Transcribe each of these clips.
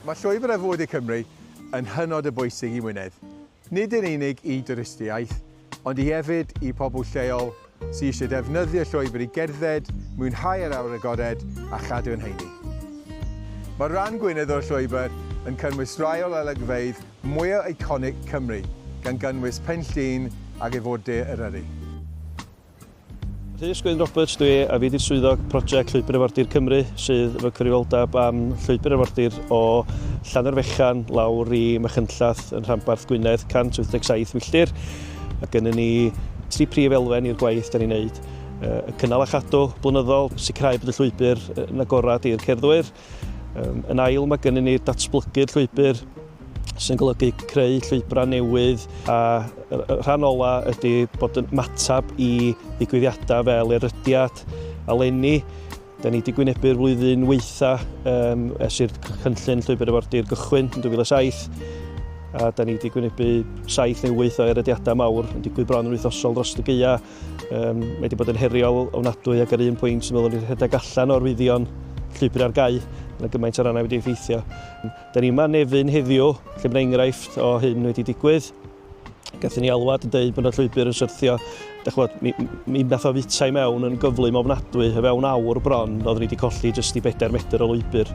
Mae llwybr ar fwyd i Cymru yn hynod o bwysig i Wynedd. Nid yn unig i dwristiaeth, ond i hefyd i pobl lleol sydd eisiau defnyddio llwybr i gerdded, mwynhau yr awyr agored a chadw yn heini. Mae rhan Gwynedd o'r llwybr yn cynnwys rai o olygfeydd mwya eiconig Cymru, gan gynnwys Pen Llŷn ac ef o De Eryri. Rhys Gwyn Roberts dwi a fi di'r swyddog prosiect Llwybr Arfordir Cymru sydd efo cyfrifoldeb am Llwybr Arfordir o Llannerfechan lawr i Machynllath yn rhanbarth Gwynedd 187 milltir. Mae gennym ni tri prif elfen i'r gwaith da ni'n neud. Y cynnal a chadw blynyddol, sicrhau bod y llwybr yn agorad i'r cerddwyr, Um, yn ail, mae gennym ni datblygu'r llwybr sy'n golygu creu llwybrau newydd a rhan ola ydy bod yn matab i ddigwyddiadau fel erydiad a lenni. Da ni wedi gwynebu'r flwyddyn weitha um, es i'r cynllun llwybr efordir gychwyn yn 2007 a da ni wedi gwynebu saith neu wyth o erediadau mawr yn digwydd bron yn wythnosol dros y geia Um, mae wedi bod yn heriol ofnadwy ac ar un pwynt yn meddwl i'r rhedeg allan o'r wyddion llwybr ar gau yn y gymaint o rannau wedi effeithio. Da ni yma nefyn heddiw lle mae enghraifft o hyn wedi digwydd. Gathen ni alwad yn dweud bod y llwybr yn syrthio. Da chwod, mi, mi nath o fwyta i mewn yn gyflym ofnadwy, y fewn awr bron, oeddwn ni wedi colli jyst i bedair metr o lwybr.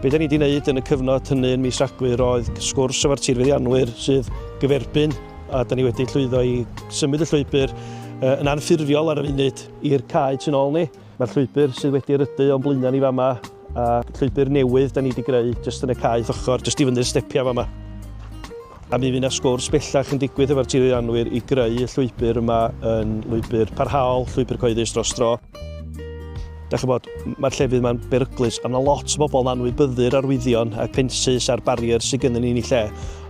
Be da ni wedi wneud yn y cyfnod hynny yn mis Rhagfyr oedd sgwrs efo'r tirfeddianwyr sydd gyferbyn A da ni wedi llwyddo i symud y llwybr yn anffurfiol ar y funud i'r cae tu ôl ni. Mae'r llwybr sydd wedi rydu o'n blaenau ni fama, a llwybr newydd da ni wedi greu jyst yn y cae ochr, jyst i fyny'r stepiau fama. A mi fydd yna sgwrs bellach yn digwydd efo'r tirwyddannwyr i greu y llwybr yma yn lwybr parhaol, llwybr cyhoeddus dros dro. Da chi bod, mae'r llefydd yma'n beryglus, a mae lot o bobl yn anwybyddu'r arwyddion a'r pensus a'r barriers sydd gennym ni yn ei lle.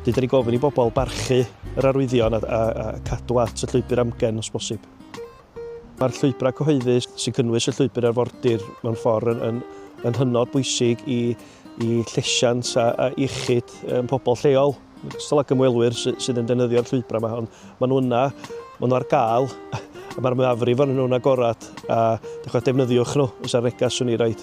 Dwi wedi gofyn i bobl barchu yr arwyddion a, a, a cadw at y llwybr amgen os bosib. Mae'r llwybrau cyhoeddus sy'n cynnwys y llwybr arfordir mewn ffordd yn, yn, yn hynod bwysig i, i llesiant a, a iechyd um, pobl lleol. Gystal ag ymwelwyr sy, sydd yn defnyddio'r llwybrau yma, ond maen nhw yna, maen nhw ar gael, a mae'r mwyafrif o'n nhw'n agorad, a dechrau defnyddiwch nhw, os ar negas swn i raid.